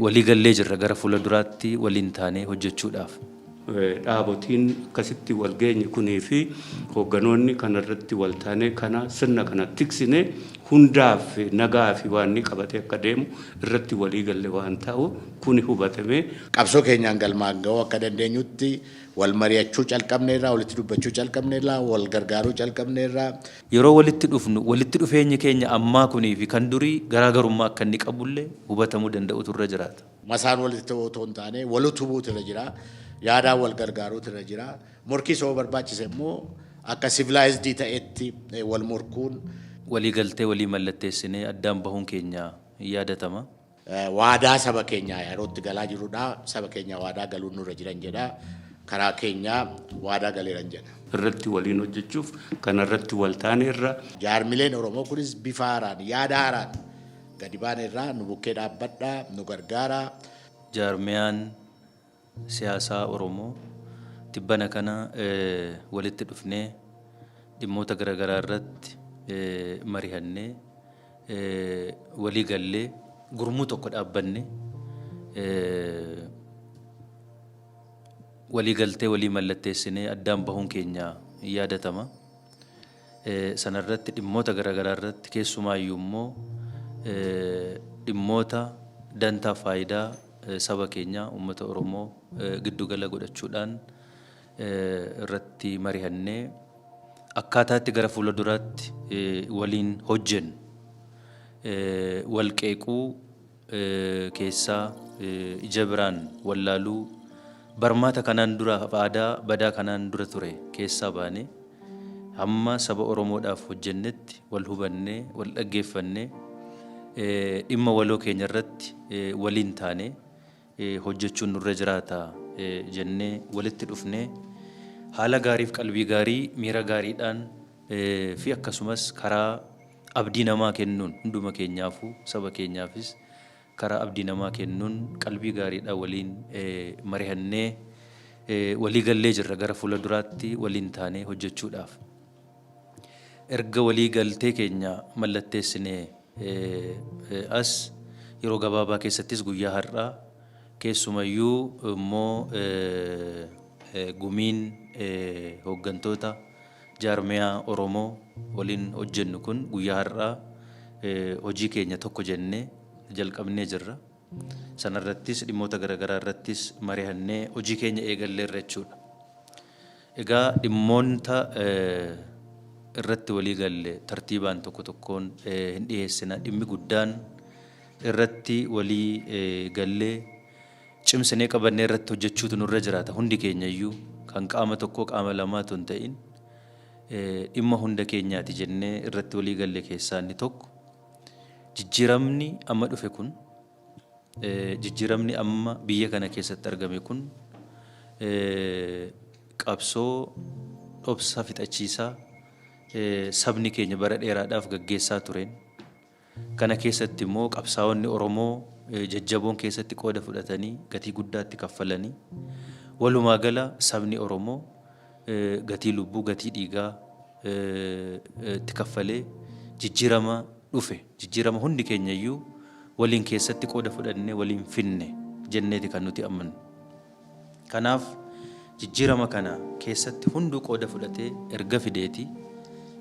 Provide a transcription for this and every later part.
waliigallee jirra gara fuula duraatti waliin taanee hojjechuudhaaf. dhaabotiin akkasitti wal geenye kunii fi hoogganoonni kana irratti wal taanee kana sirna kana tiksine hundaaf nagaa fi waan inni qabatee akka deemu irratti walii galle waan ta'u kuni hubatamee qabsoo keenyaan galmaan ga'uu akka dandeenyutti wal mari'achuu calqabneerra, walitti dubbachuu calqabneerra, wal gargaaruu calqabneerra. Yeroo walitti dhufnu walitti dhufeenyi keenya ammaa kunii fi kan durii garaa garummaa akka inni qabu illee hubatamuu danda'utu irra jiraata. Masaan walitti ta'uu otoo hin taane wal utubuutu irra jira. Yaadaan wal gargaaruutu irra jira. Morkiis yoo barbaachise immoo akka civilized ta'etti wal morkuun. Walii galtee walii mallatteessinee addaan bahuun keenya hin yaadatama. Waadaa saba keenyaa yeroo itti galaa jirrudha. Saba keenya waadaa galuun nurra jiran jedha. Karaa keenya waadaa galeeran jedha. irratti waliin hojjechuuf kana irratti wal taaneerra. Jaarmileen Oromoo kunis bifa haaraan, yaada haaraan gadi baaneerra. Nu bukkee dhaabbadhaa, nu gargaaraa. Jaarmiyaan. siyaasaa Oromoo tibbana kana walitti dhufnee dhimmoota garagaraa irratti marihannee walii gallee gurmuu tokko dhaabbanne walii galtee walii mallatteessinee addaan bahuun keenya yaadatama. sana irratti dhimmoota garagaraa irratti keessumaayyuu immoo dhimmoota dantaa faayidaa saba keenyaa uummata Oromoo giddu gala godhachuudhaan irratti marihannee akkaataa itti gara fuula duraatti waliin hojjennu wal qeequu keessaa ija biraan wallaaluu barmaata kanaan dura aadaa badaa kanaan dura ture keessaa baanee hamma saba Oromoodhaaf hojjennetti wal hubannee wal dhaggeeffannee dhimma waloo keenya irratti waliin taanee hojjechuun nurra jiraata jennee walitti dhufnee haala gaariif qalbii gaarii miira gaariidhaan fi akkasumas karaa Abdii namaa kennuun hunduma keenyaafuu saba keenyaafis karaa abdii namaa kennuun qalbii gaariidhaan waliin marihannee walii gallee jirra gara fuula duraatti waliin taanee hojjechuudhaaf erga walii galtee keenya mallatteessinee as yeroo gabaabaa keessattis guyyaa har'aa keessumayyuu immoo gumiin hooggantoota Jaarmiyaa Oromoo waliin hojjennu kun guyyaa har'aa hojii keenya tokko jennee jalqabnee jirra. Sanarrattis dhimmoota garagaraa irrattis marihannee hojii keenya eegalleerra jechuudha. Egaa dhimmoonta irratti walii galle tartiibaan tokko tokkoon hin dhiheessina. Dhimmi guddaan irratti walii gallee cimsinee qabannee irratti hojjechuutu nurra jiraata. Hundi keenya iyyuu kan qaama tokkoo qaama lamaa otoo hin ta'in dhimma hunda keenyaati jennee irratti walii galle keessaa inni tokko jijjiiramni amma dhufe kun jijjiiramni amma biyya kana keessatti argame kun qabsoo dhobsa fixachiisaa sabni keenya bara dheeraadhaaf gaggeessaa tureen Kana keessatti immoo qabsaa'onni Oromoo jajjaboon keessatti qooda fudhatanii gatii guddaa itti kaffalanii. Walumaa gala sabni Oromoo gatii lubbuu, gatii dhiigaa itti kaffalee jijjiirama dhufe, jijjiirama hundi keenya iyyuu waliin keessatti qooda fudhannee waliin fidne jenneeti kan nuti amannu. Kanaaf jijjiirama kana keessatti hunduu qooda fudhatee erga fideeti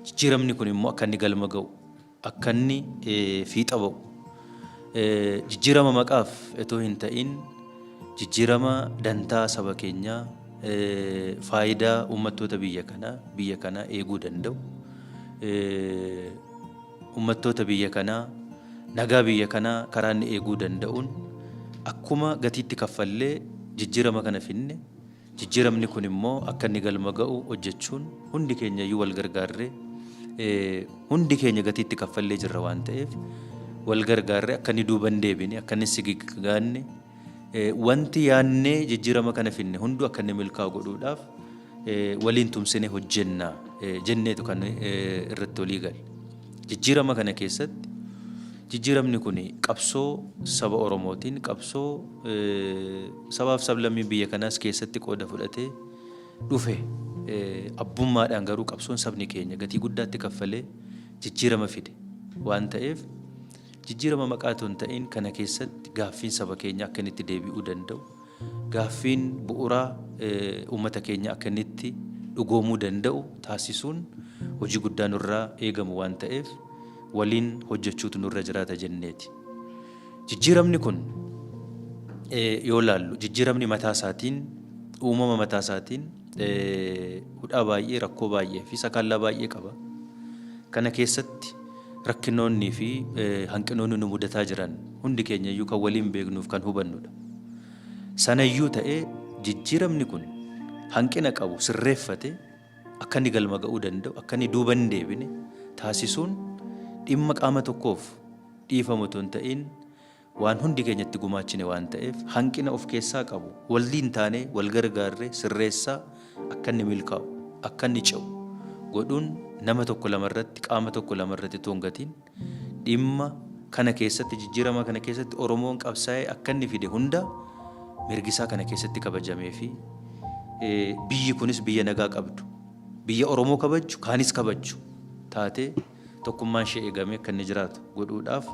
jijjiiramni kun immoo akka inni galma ga'u, akkanni fiixa ba'u. Jijjiirama maqaaf itoo hin ta'iin jijjiirama dantaa saba keenyaa, faayidaa uummattoota biyya kanaa, biyya kanaa eeguu danda'u, uummattoota biyya kanaa, nagaa biyya kanaa karaa inni eeguu danda'uun akkuma gatiitti kaffallee jijjiirama kana fidne Jijjiiramni kun immoo akka inni galma ga'u hojjechuun hundi keenyayyuu wal gargaarree hundi keenya gatii itti kaffallee jirra waan ta'eef wal gargaarree akka inni duuba hin deebine akka inni sigiggaanne wanti yaannee jijjiirama kana finne hunduu akka inni milkaa'u godhuudhaaf waliin tumsine hojjenna jenneetu kan irratti walii gale. Jijjiirama kana keessatti jijjiiramni kuni qabsoo saba Oromootiin, qabsoo sabaaf sablammii biyya kanaas keessatti qooda fudhatee dhufe. Abbummaadhaan garuu qabsoon sabni keenya gatii guddaatti kaffalee jijjiirama fide waan ta'eef jijjiirama maqaa otoo hin ta'in kana keessatti gaaffiin saba keenya akka inni itti deebi'uu danda'u Gaaffiin bu'uraa uummata keenya akka inni itti dhugoomuu danda'u taasisuun hojii guddaa nurraa eegamu waan ta'eef waliin hojjechuutu nurra jiraata jenneeti. Jijjiiramni kun yoo ilaallu jijjiiramni mataa isaatiin uumama mataa isaatiin hudhaa baay'ee rakkoo baay'ee fi sakaallaa baay'ee qaba. Kana keessatti Rakkinoonnii fi hanqinoonni nu mudataa jiran hundi keenya iyyuu kan waliin beeknuu fi kan hubannu dha. Sana iyyuu ta'ee jijjiiramni kun hanqina qabu sirreeffatee akka inni galma ga'uu danda'u, akka inni duuba hin deebine taasisuun dhimma qaama tokkoof dhiifamu utuu hin ta'iin, waan hundi keenya itti gumaachine waan ta'eef hanqina of keessaa qabu walliin taanee wal gargaarree sirreessaa akka inni milkaa'u, akka inni ce'u godhuun nama tokko lama irratti, qaama tokko lama irratti utuu hin gatiin dhimma kana keessatti jijjiirama kana keessatti Oromoon qabsaa'ee akka inni fide hunda mirgi isaa kana keessatti kabajamee fi biyyi kunis biyya nagaa qabdu, biyya Oromoo kabajju kaanis kabajju taatee, Tokkummaan ishee eegamee akka inni jiraatu godhuudhaaf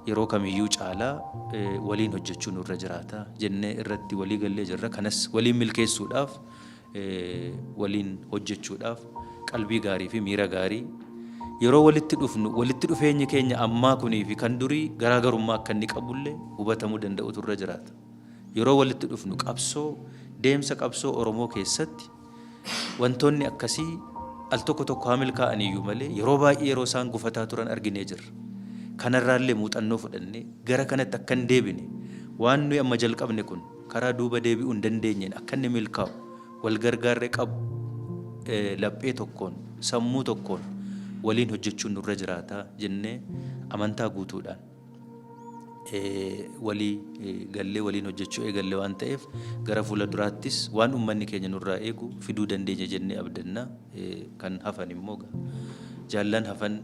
yeroo kamiyyuu caalaa waliin hojjechuu nurra jiraata jennee irratti walii gallee jirra. Kanas waliin milkeessuudhaaf waliin hojjechuudhaaf qalbii gaarii fi miira gaarii yeroo walitti dhufnu walitti dhufeenyi keenya ammaa kunii fi kan durii garaagarummaa akka inni qabullee hubatamuu danda'utu irra jiraata. Yeroo walitti dhufnu qabsoo deemsa qabsoo Oromoo keessatti Wantoonni akkasii al tokko tokko haa milkaa'aniyyuu malee yeroo baay'ee yeroo isaan gufataa turan arginee jirra. Kanarraallee muuxannoo fudhannee gara kanatti akka hin deebine waan nuyi amma jalqabne kun karaa duuba deebi'uu hin dandeenyeen akka inni milkaa'u wal gargaarree qab laphee tokkoon sammuu tokkoon waliin hojjechuun nurra jiraata jennee amantaa guutuudhaan walii gallee waliin hojjechuu eegalle waan ta'eef gara fuula duraattis waan uummanni keenya nurraa eegu fiduu dandeenya jennee abdanna kan hafan immoo jaallan hafan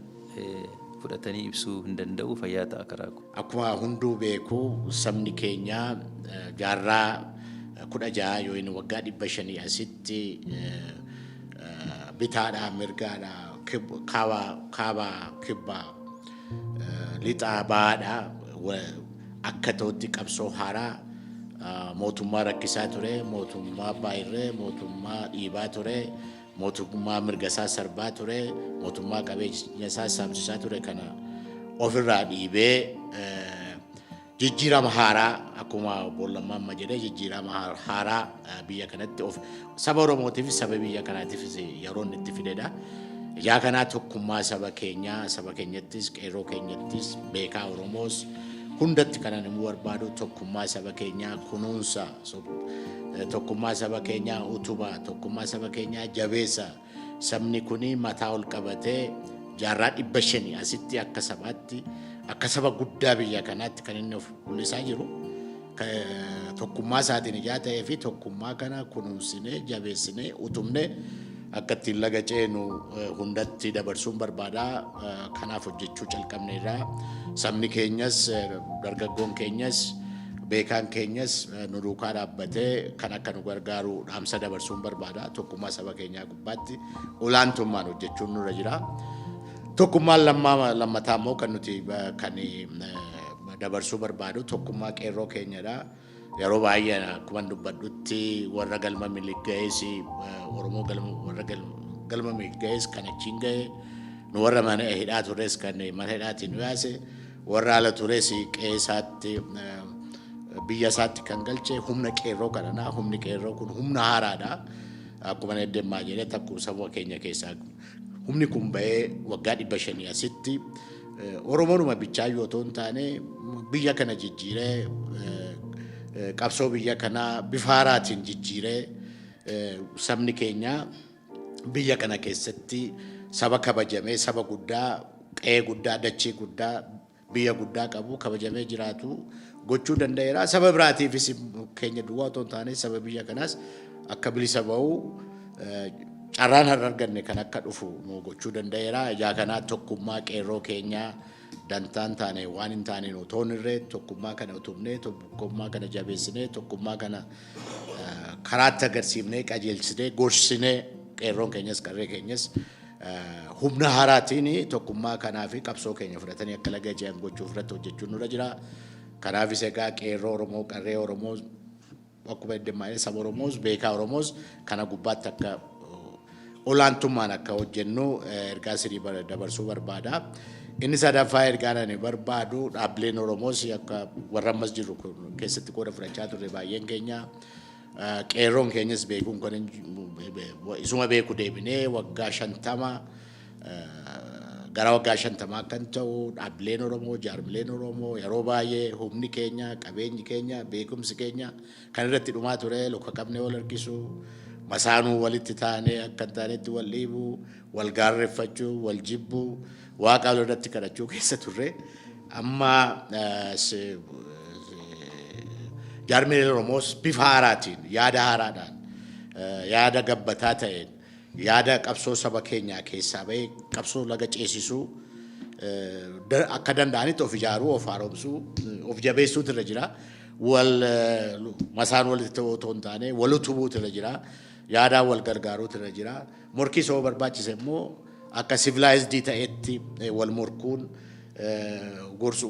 fudhatanii ibsuu hin danda'u fayyaa ta'a karaa koo. Akkuma hunduu beeku sabni keenya jaarraa kudha ja'a yookiin waggaa dhibba shanii asitti bitaadhaa mirgaadhaa kaabaa kibbaa Lixaa bahaadha. Akka ta'utti qabsoo haaraa mootummaa rakkisaa ture, mootummaa baay'irree, mootummaa dhiibaa ture, mootummaa mirga isaa sarbaa ture, mootummaa qabeenya isaa saamsisaa ture kana ofirraa dhiibee Jijjiirama haaraa akkuma obbo Lammaa amma jedhe jijjiirama haaraa biyya kanatti of saba Oromootiifis saba biyya kanaatiifis yeroo inni itti fidedha. Ijaa kanaa tokkummaa saba keenyaa saba keenyattis qeerroo keenyattis beekaa Oromoos hundatti kanan immoo barbaadu tokkummaa saba keenyaa kunuunsa tokkummaa saba keenyaa utubaa tokkummaa saba keenyaa jabeessa. Sabni kun mataa ol qabatee jaarraa dhibba shanii asitti akka sabaatti akka saba guddaa biyya kanaatti kan inni of mul'isaa jiru tokkummaa isaatiin ijaa ta'ee fi tokkummaa kana kunuunsinee jabeessinee utubnee akka ittiin laga ceenu hundatti dabarsuun barbaada. Kanaaf hojjechuu calqabneerra. Sabni keenyas, dargaggoon keenyas, beekaan keenyas nu duukaa dhaabbatee kan akka nu gargaaru dhaamsa dabarsuun barbaada. Tokkummaa saba keenyaa gubbaatti olaantummaan hojjechuun nurra jira. Tokkummaan lammaa lammataa immoo kan nuti kan dabarsuu barbaadu tokkummaa qeerroo keenyadha. Yeroo baay'ee akkuman dubbadhutti warra galma milik ga'ees Oromoo galma warra galma milik ga'ees kan achiin ga'e nu warra mana hidhaa turres kan mana hidhaatiin nu yaase warra ala turres qe'ee isaatti biyya isaatti kan galche humna qeerroo kanadha. Humni qeerroo kun humna haaraadha. Akkuma deemaa jedhee takkuun saba keenya keessaa Humni kun ba'ee waggaa 500 asitti Oromoonuma bichaayyuu otoo hin taane biyya kana jijjiiree qabsoo biyya kanaa bifa haaraatiin jijjiiree sabni keenya biyya kana keessatti saba kabajamee saba guddaa qe'ee guddaa dachii guddaa biyya guddaa qabu, kabajamee jiraatu gochuu danda'eera. Saba biraatiifis keenya duwwaa otoo hin taane saba biyya kanaas akka bilisa ba'u carraan har'a arganne kan akka dhufu nu gochuu danda'eera. Ijaa kanaa tokkummaa qeerroo keenyaa dantaan taane waan hin taane nu toon irree tokkummaa kana utubnee tokkummaa kana jabeessinee tokkummaa kana karaatti agarsiifnee qajeelchinee gorsinee qeerroon keenyas qarree keenyas Humna haaraatiin tokkummaa kanaa fi qabsoo keenya fudhatanii akka laga ce'an gochuuf irratti hojjechuun nurra jira. Kanaafis egaa qeerroo Oromoo, qarree Oromoo, akkuma eddeemmaa saba Oromoos, beekaa Oromoos kana gubbaatti akka olaantummaan akka hojjennu ergaa sirii dabarsuu barbaada. Inni sadaffaa ergaan ani barbaadu dhaabbileen Oromoos akka warra ammas jiru keessatti qooda fudhachaa turre baay'een keenya. Qeerroon keenyas beekuun kan isuma beeku deebinee waggaa shantama gara waggaa shantamaa kan ta'u dhaabbileen Oromoo, jaarmileen Oromoo yeroo baay'ee humni keenya, qabeenyi keenya, beekumsi keenya kan irratti dhumaa ture luka qabnee wal harkisu, masaanuu walitti taanee akka hin taanetti wal dhiibu, wal gaarreffachuu, wal jibbuu, Waaqaalo irratti kadhachuu keessa turre. Amma jaarmileen Oromoos bifa haaraatiin, yaada haaraadhaan, yaada gabbataa ta'een, yaada qabsoo saba keenyaa keessaa ba'ee qabsoo laga ceesisuu akka danda'anitti of ijaaruu, of haaromsuu, of jabeessuutu irra jira. Wal masaan walitti ta'uu otoo hin taane wal utubuutu irra jira. Yaadaan wal gargaaruutu irra jira. Morkiis hoo barbaachise immoo akka sivilaayizdii ta'etti wal morkuun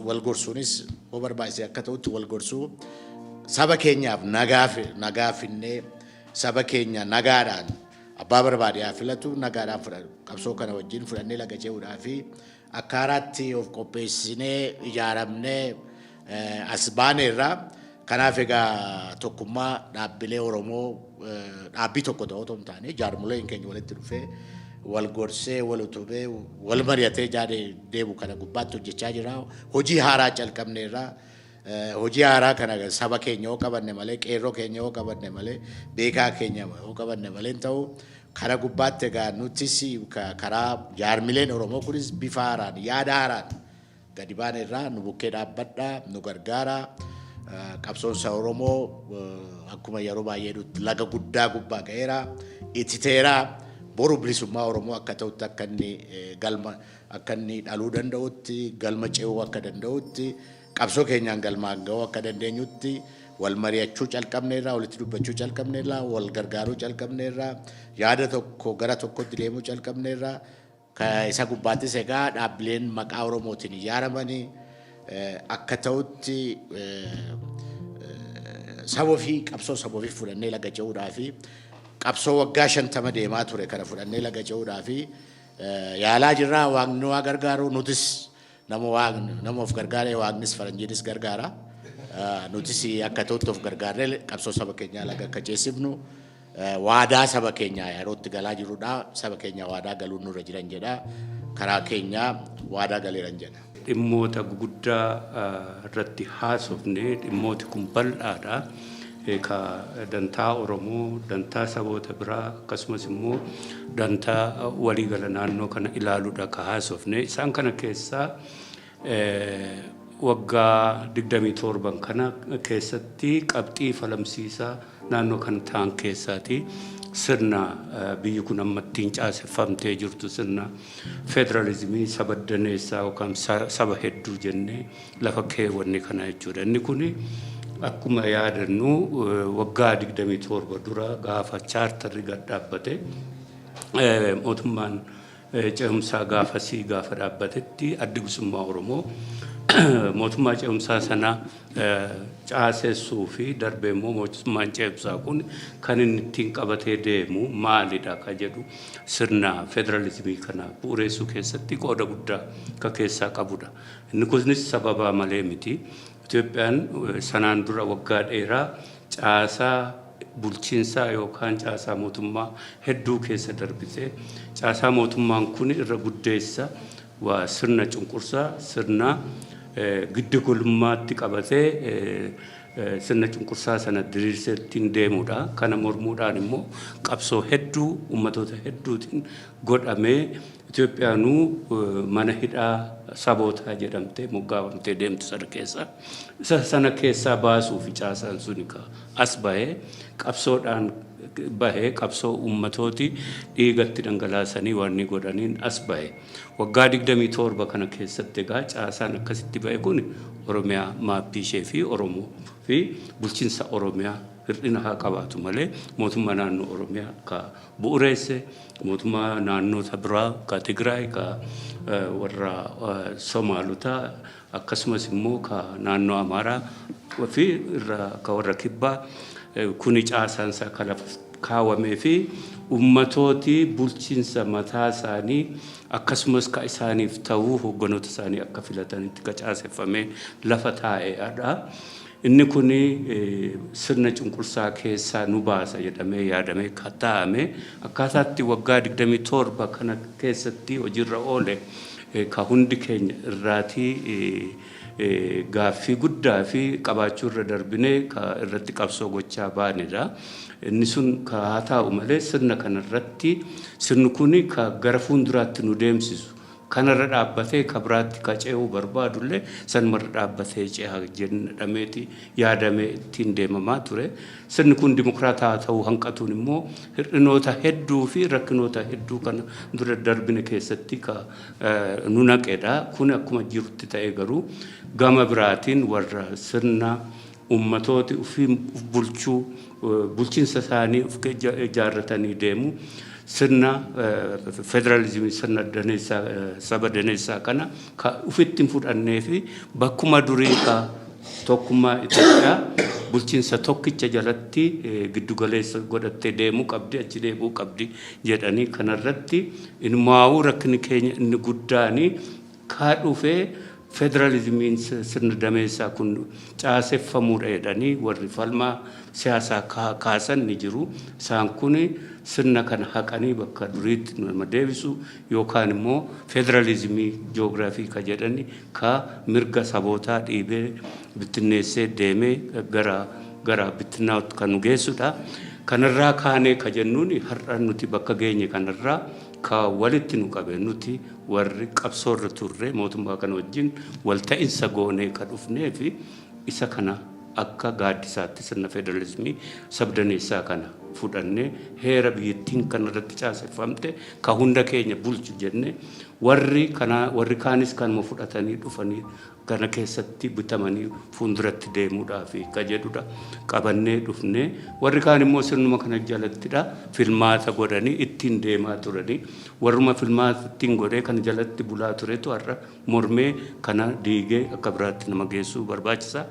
wal gorsuunis hoo barbaachise akka ta'utti wal gorsuu saba keenyaaf nagaa finnee saba keenya nagaadhaan abbaa barbaade haa filatu nagaadhaan qabsoo kana wajjin fudhannee laga ce'uudhaa fi Akka haaraatti of qopheessinee ijaaramnee as baaneerra. Kanaaf egaa tokkummaa dhaabbilee Oromoo dhaabbii tokko ta'uu otoo hin taane jaarmoleen keenya walitti dhufee wal gorsee wal utubee wal mari'atee jaade deemu kana gubbaatti hojjechaa jira. Hojii haaraa calqabneerra. Hojii haaraa kana saba keenya yoo qabanne malee qeerroo keenya yoo qabanne malee beekaa keenya yoo qabanne malee hin ta'u. Kana gubbaatti egaa nutis karaa jaarmileen Oromoo kunis bifa haaraan, yaada haaraan gadi baaneerraa nu bukkee dhaabbadhaa, nu gargaaraa. Qabsoon saba Oromoo akkuma yeroo baay'ee jedhutti laga guddaa gubbaa ga'eera, ititeera. Boru bilisummaa Oromoo akka ta'utti akka inni galma akka inni dhaluu danda'utti, galma ce'uu akka danda'utti Qabsoo keenyaan galmaan gahuu akka dandeenyutti wal mari'achuu calqabneerra, walitti dubbachuu calqabneerra, wal gargaaruu calqabneerra, yaada tokko gara tokkotti deemuu calqabneerra. Ka- Isa gubbaattis egaa dhaabbileen maqaa Oromootiin ijaaramanii eh, akka ta'utti eh, saba ofii qabsoo saba ofii fudhannee laga ce'uudhaa fi qabsoo waggaa shantama deemaa ture kana fudhannee laga ce'uudhaa fi eh, yaalaa jirra waaqni waa gargaaru nutis Nama Waaqni, nama of gargaaree Waaqnis faranjiinis gargaara. Nutis akka ta'utti of gargaarree qabsoo saba keenyaa laga akka ceesifnu waadaa saba keenyaa yerootti galaa jirudha. Saba keenya waadaa galuun nurra jiran jedha. Karaa keenya waadaa galeeran jedha. Dhimmoota guguddaa irratti haasofne dhimmooti kun bal'aadha. ka dantaa Oromoo, dantaa saboota biraa akkasumas immoo dantaa waliigala naannoo kana ilaaluudha ka haasofne. Isaan kana keessaa waggaa 27 kana keessatti qabxii falamsiisaa naannoo kana ta'an keessaati sirna biyyi kun amma ittiin caaseffamtee jirtu sirna federaalizimii saba daneessaa yookaan saba hedduu jennee lafa keewwanne kana jechuudha. Inni kun akkuma yaadannu waggaa 27 dura gaafa chaartarri gad dhaabbate mootummaan ce'umsaa gaafasii gaafa dhaabbatetti addi bilisummaa Oromoo mootummaa ce'umsaa sana caasessuu fi darbee immoo mootummaan ce'umsaa kun kan inni ittiin qabatee deemu maalidha ka jedhu sirna federalizimii kana bu'ureessuu keessatti qooda guddaa ka keessaa qabudha. Inni kunis sababaa malee miti. Itoophiyaan sanaan dura waggaa dheeraa caasaa bulchiinsaa yookaan caasaa mootummaa hedduu keessa darbite. Caasaa mootummaan kun irra guddeessa waa sirna cunqursaa, sirna giddu galummaatti qabatee sirna cunqursaa sana diriirsee ittiin deemudha. Kana mormuudhaan immoo qabsoo hedduu ummatoota hedduutiin godhamee Itoophiyaanuu mana hidhaa sabootaa jedhamtee moggaafamtee deemti sana keessa. Isa sana keessaa baasuufi caasaan suni ka as bahee qabsoodhaan bahee qabsoo uummatooti dhiigatti dhangalaasanii waanni godhaniin as bahe. Waggaa 27 kana keessatti egaa caasaan akkasitti bahe kun Oromiyaa maappii ishee fi Oromoo fi bulchinsa Oromiyaa hir'ina haa qabaatu malee mootummaa naannoo Oromiyaa ka bu'ureesse mootummaa naannoo isa biraa ka Tigraay ka warra Somaalotaa akkasumas immoo ka naannoo Amaaraa fi irra ka warra kibbaa kuni caasaan isaa ka lafa kaawamee fi ummatooti bulchiinsa mataa isaanii akkasumas ka isaaniif ta'uu hogganoota isaanii akka filatanitti ka caaseffamee lafa taa'eedha. Inni kun sirna cunqursaa keessaa nu baasa jedhamee yaadamee kan taa'ame akkaataa itti waggaa 27 kana keessatti hojiirra oole kan hundi keenya irraatii gaaffii guddaa fi qabaachuu irra darbinee kan irratti qabsoo gochaa baanedha. Inni sun kan haa taa'u malee sirna kana irratti sirni kun kan gara fuunduraatti nu deemsisu Kanarra dhaabbatee ka biraatti ka ce'uu barbaadullee sanumarra dhaabbatee ceha jedhameeti yaadamee ittiin deemamaa ture. Sirni kun dimokraatawaa ta'uu hanqatuun immoo hir'inoota hedduu fi rakkinoota hedduu kana dura darbine keessatti ka nu naqedha. Kun akkuma jirutti ta'ee garuu gama biraatiin warra sirna Ummatooti ufiin uf bulchuu, bulchinsa isaanii uf ijaarratanii deemu. Sirna federalizimii, sirna daneessaa, saba daneessaa kana ka ufitti hin fudhannee fi bakkuma durii ka tokkummaa Itoophiyaa bulchinsa tokkicha jalatti giddu galeessa godhattee deemuu qabdi, achi deebi'uu qabdi jedhanii kanarratti inumaawuu rakkinni keenya inni guddaani kaa dhufee federalizimiin sirna dameessaa kun caaseffamuudha jedhanii warri falmaa siyaasaa kaa kaasan ni jiru. Isaan kun sirna kana haqanii bakka duriitti nu nama deebisu yookaan immoo federalizimii joogiraafii ka jedhan ka mirga sabootaa dhiibee bittinneessee deemee gara gara bittinnaa'utti ka nu geessudha. Kanarraa kaanee ka jennuun har'a nuti bakka geenye kanarraa Ka walitti nu qabe nuti warri qabsoo irra turre mootummaa kana wajjin wal ta'insa goonee ka dhufnee fi isa kana akka gaaddisaatti sirna federalismii sabdaneessaa kana fudhannee heera biyyattiin kana irratti caaseffamte ka hunda keenya bulchu jennee warri kanaa warri kaanis kanuma fudhatanii dhufanii kana keessatti butamanii fuunduratti deemuudhaafi ka jedhudha qabannee dhufnee. Warri kaan immoo sirnuma kana jalattidha filmaata godhanii ittiin deemaa turanii. Warruma filmaata ittiin godhee kana jalatti bulaa turetu har'a mormee kana diigee akka biraatti nama geessuu barbaachisa.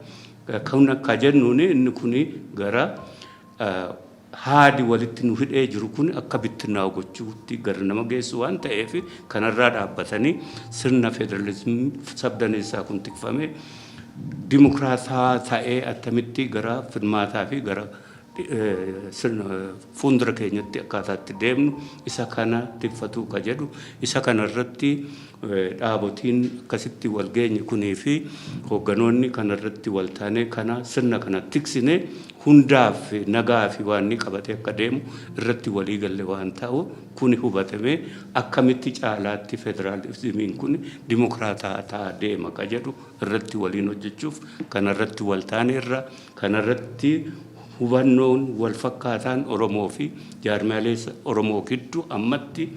Kun akka jennuuni inni kuni gara Haadi walitti nu hidhee jiru kun akka bittinnaa'u gochuutti gar nama geessu waan ta'eef kanarraa dhaabbatanii sirna federalizimii sabdaneessaa kun tikfamee dimokraatawaa ta'ee attamitti gara filmaataa fi gara sirna fuundura keenyatti akkaataa itti deemnu isa kana tikfatuu ka jedhu isa kanarratti dhaabotiin akkasitti wal geenye kunii fi hoogganoonni kana irratti wal taanee kana sirna kana tiksine hundaaf nagaa fi waan inni qabatee akka deemu irratti walii galle waan ta'u kuni hubatamee akkamitti caalaatti federaalizimiin kun dimokiraataa ta'aa deema ka jedhu irratti waliin hojjechuuf kana irratti wal taanee irra kana irratti hubannoon wal fakkaataan Oromoo fi jaarmiyaalee Oromoo gidduu ammatti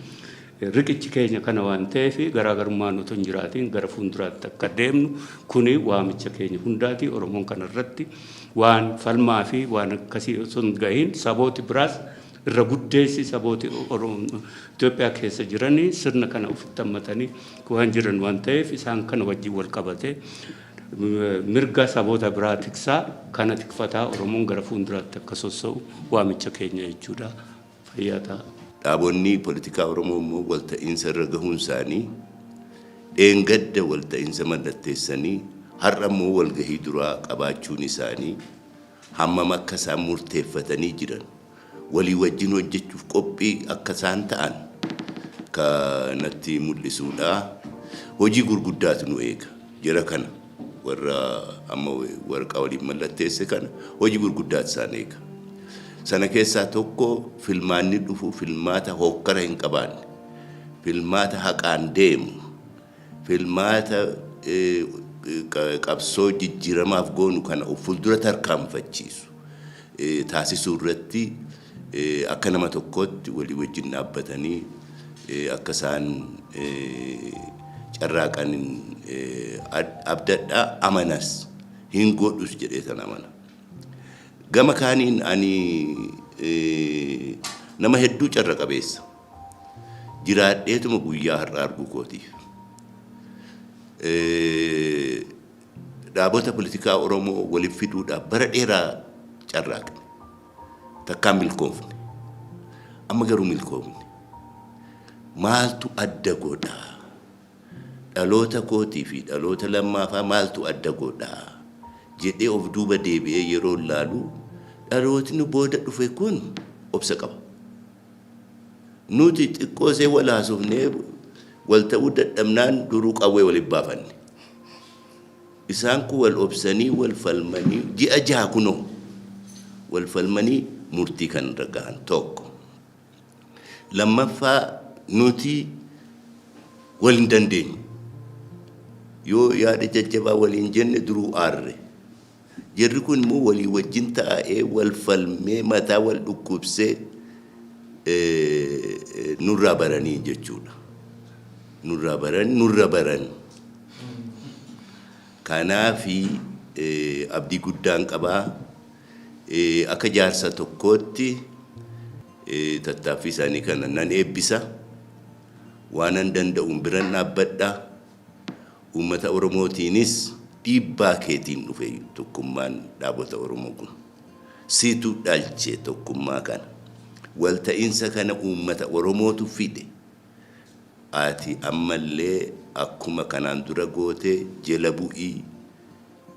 Riqichi keenya kana waan ta'eef garaagarummaan otoo hin jiraatiin gara fuulduraatti akka deemnu kuni waamicha keenya hundaati. Oromoon kana irratti waan falmaa fi waan akkasii osoo hin gahiin sabooti biraas irra guddeessi sabooti Itoophiyaa keessa jiranii sirna kana ofitti hammatanii waan jiran waan ta'eef isaan kana wajjin wal qabatee mirga saboota biraa tiksaa kana tikfataa Oromoon gara fuulduraatti akka sossa'u waamicha keenya jechuudha. fayyaa ta'a. Dhaabonni politikaa Oromoo immoo walta'iinsa irra gahuun isaanii dheengadda walta'iinsa mallatteessanii har'a immoo walgahii duraa qabaachuun isaanii hammam akka isaan murteeffatanii jiran walii wajjin hojjechuuf qophii akka isaan ta'an kanatti mul'isuudha. Hojii gurguddaatu nu eega jara kana. Warra amma waraqaa waliin mallatteesse kana hojii gurguddaatu isaan eega. Sana keessaa tokko filmaanni dhufu filmaata hokkara hin qabaanne, filmaata haqaan deemu, filmaata qabsoo jijjiiramaaf goonu kana of fuuldura tarkaanfachiisu taasisuu irratti Akka nama tokkootti walii wajjin dhaabbatanii akka isaan carraaqan abdadha, amanas, hin godhus jedheetan amana. Gama kaaniin ani nama hedduu carra qabeessa jiraadheetuma guyyaa har'a arguu kootiif. Dhaabota politikaa Oromoo walitti fiduudhaaf bara dheeraa carraaqne. Takkaa milkoofne. Amma garuu milkoofne. Maaltu adda godha? Dhaloota kootii fi dhaloota lammaafaa maaltu adda godha? jedhee of duuba deebi'ee yeroo laalu dhalootni booda dhufe kun obsa qaba. Nuti xiqqoo isee wal haasofnee wal ta'uu dadhabnaan duruu qawwee wal baafanne. Isaan kun wal obsanii, wal falmanii ji'a jaha kunoo wal falmanii murtii kan irra gahan tokko. Lammaffaa nuti wal hin dandeenyu. Yoo yaada jajjabaa waliin jenne duruu aarre. Jarri kun immoo walii wajjin taa'ee wal falmee mataa wal dhukkubsee nurraa baranii jechuudha. Nurraa baran nurra baran. Kanaafi abdii guddaan qaba. Akka jaarsa tokkootti tattaaffii isaanii kana nan eebbisa. Waanan danda'uun biran dhaabbadha. Uummata Oromootiinis dhiibbaa keetiin dhufe tokkummaan dhaabota Oromoo kun. Siitu dhalche tokkummaa kana. Walta'iinsa kana uummata Oromootu fide. Ati ammallee akkuma kanaan dura goote jela bu'i,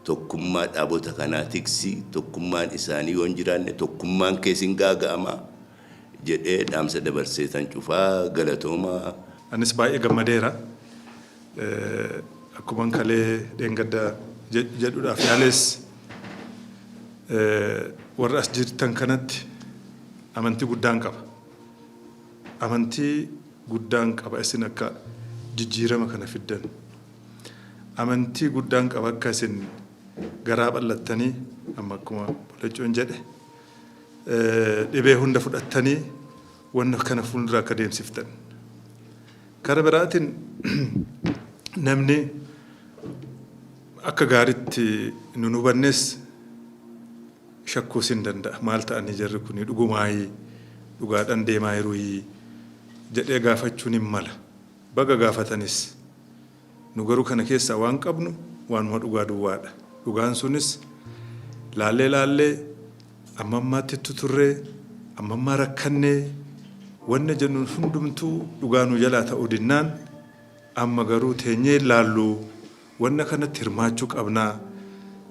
tokkummaa dhaabota kanaa tiksi, tokkummaan isaanii yoo hin jiraanne tokkummaan kees hin gaaga'ama jedhee dhaamsa dabarseetan cufa. Galatoomaa. Anis baay'ee gammadeera. Akkuman kalee dheengadda jedhuudhaaf yaales warra as jirtan kanatti amantii guddaan qaba. Amantii guddaan qaba isin akka jijjiirama kana fiddan. Amantii guddaan qaba akka isin garaa bal'attanii amma akkuma Bolecuun jedhe dhibee hunda fudhattanii wanna kana fuuldura akka deemsiftan. Kara biraatiin namni akka gaaritti nun hubannes shakkuus hin danda'a. Maal ta'anii jarri kuni? Dhugumaayii? Dhugaadhan deemaayiruyii? jedhee gaafachuun hin mala. Baga gaafatanis. Nu garuu kana keessaa waan qabnu waanuma dhugaa duwwaadha. Dhugaan sunis laallee laallee amma ammaatti ittu turree, amma ammaa rakkannee wanna jennuun hundumtuu dhugaa nu jalaa ta'uu dinnaan amma garuu teenyee hin laalluu. Wanna kanatti hirmaachuu qabnaa,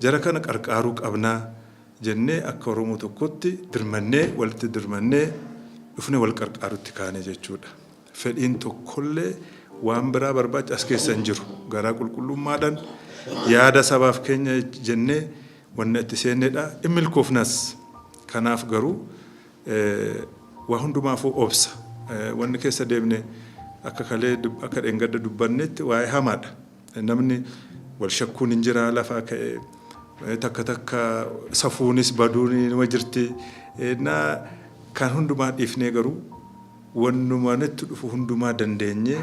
jara kana qarqaaruu qabnaa jennee akka Oromoo tokkotti dirmannee, walitti dirmannee dhufnee wal qarqaarutti kaane jechuu dha. Fedhiin tokkollee waan biraa barbaacha as keessa hin jiru. Garaa qulqullummaadhaan yaada sabaaf keenya jennee wanna itti seenne dha. In milkoofnas. Kanaaf garuu Waa hundumaafuu obsa. Wanni keessa deemne akka kalee akka dheengadda dubbannetti waa'ee hamaadha. Namni wal shakkuun hin jiraa lafaa ka'ee takka takka safuunis baduun numa jirti. Ennaa kan hundumaa dhiifnee garuu wannuma nutti dhufu hundumaa dandeenyee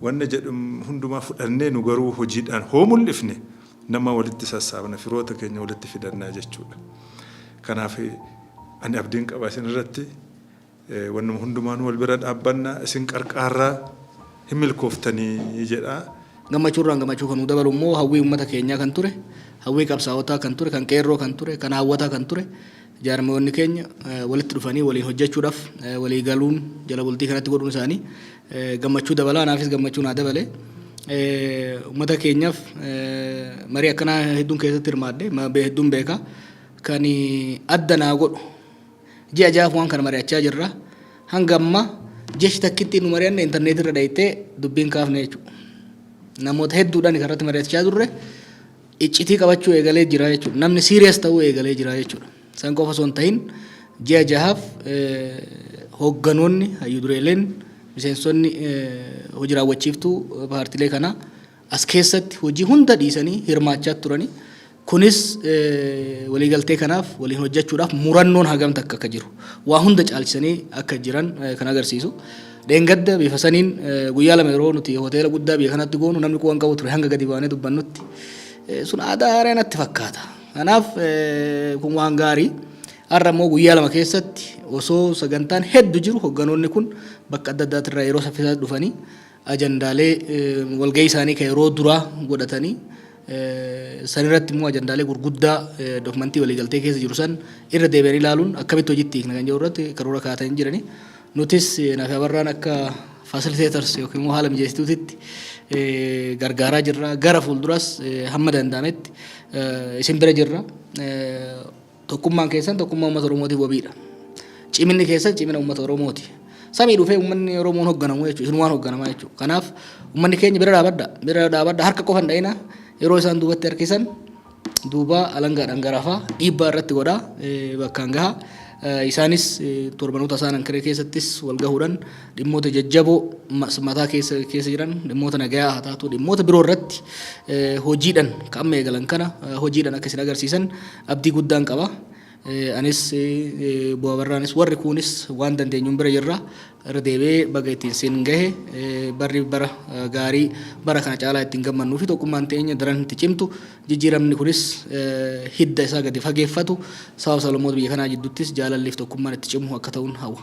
Wanna jedhu hundumaa fudhannee nu garuu hojiidhaan hoo mul'ifne nama walitti sassaabna, firoota keenya walitti fidanna jechuudha. Kanaaf ani abdiin qaba isin irratti. Wannuma hundumaanuu wal bira dhaabbanna, isin qarqaarra, hin milkooftanii jedha. Gammachuurraan gammachuu kan nuu dabalu immoo hawwii uummata keenyaa kan ture, hawwii qabsaa'otaa kan ture, kan qeerroo kan ture, kan haawwataa kan ture jaarmayoonni keenya walitti dhufanii waliin hojjechuudhaaf walii galuun jala bultii kanatti godhuun isaanii gammachuu dabala anaafis gammachuu naa dabale ummata keenyaaf marii akkanaa hedduun keessatti hirmaadhe hedduun beeka kan adda naa godhu ji'a jaaf waan kana mari'achaa jirra hanga amma jechi takkitti nu mari'anne intarneetii irra dhayxee dubbiin kaafne jechuudha namoota hedduudhaan irratti mari'achaa turre iccitii qabachuu eegalee jira jechuudha namni siiriyas ta'uu eegalee jira jechuudha. San qofa osoo hin ta'in ji'a jahaaf hoogganoonni, hayyu dureeleen, miseensonni hoji raawwachiiftuu paartilee kanaa as keessatti hojii hunda dhiisanii hirmaachaa turani. Kunis waliigaltee kanaaf waliin hojjechuudhaaf murannoon hagam takka akka jiru waa hunda caalchisanii akka jiran kan agarsiisu. Dheengadda bifa saniin guyyaa lama yeroo nuti hoteela guddaa biyya kanatti goonu namni quwan qabu ture hanga gadi baanee dubbannutti sun aadaa haaraa natti fakkaata. Kanaaf kun waan gaarii. Har'a immoo guyyaa lama keessatti osoo sagantaan heddu jiru hogganoonni kun bakka adda addaati irraa yeroo saffisaa dhufanii ajandaalee walgahii isaanii kan yeroo duraa godhatanii sanirratti immoo ajandaalee gurguddaa dokumentii waliigaltee keessa jiru san irra deebi'anii ilaaluun akkamitti hojiitti hiikna kan jiru irratti karoora kaa'atanii jiranii. Nutis Natabarraan akka facilitators yookiin immoo haala mijeessituutitti gargaaraa jirra. Gara fuulduraas hamma danda'ametti isin bira jirra. Tokkummaan keessan tokkummaa uummata Oromootiif wabiidha. Ciminni keessan cimina uummata Oromooti. Samii dhufee uummanni Oromoon hoogganamu jechuudha. Isin waan hoogganamaa jechuudha. Kanaaf uummanni keenya bira dhaabadha. Bira dhaabadha harka qofa hin dha'ina. Yeroo isaan duubatti harkisan duuba alangaadhaan garafa, dhiibbaa irratti godha, bakkaan gaha. Isaanis torbanoota isaan Ankaree keessattis wal gahuudhaan dhimmoota jajjaboo mataa keessa keessa jiran dhimmoota nagayaa haa taatu dhimmoota biroo irratti hojiidhaan ka amma eegalan kana hojiidhaan akka isin agarsiisan abdii guddaan qaba. Anis obbo Abarraanis warri kuunis waan dandeenyuun bira jirra. Irra deebi'ee baga ittiin siin gahe barri bara gaarii bara kana caalaa ittiin gammannuu fi tokkummaan teenya daran itti cimtu jijjiiramni kunis hidda isaa gadi fageeffatu sababa sablammoota biyya kanaa jidduuttis jaalalli fi tokkummaan itti cimu akka ta'uun hawwa.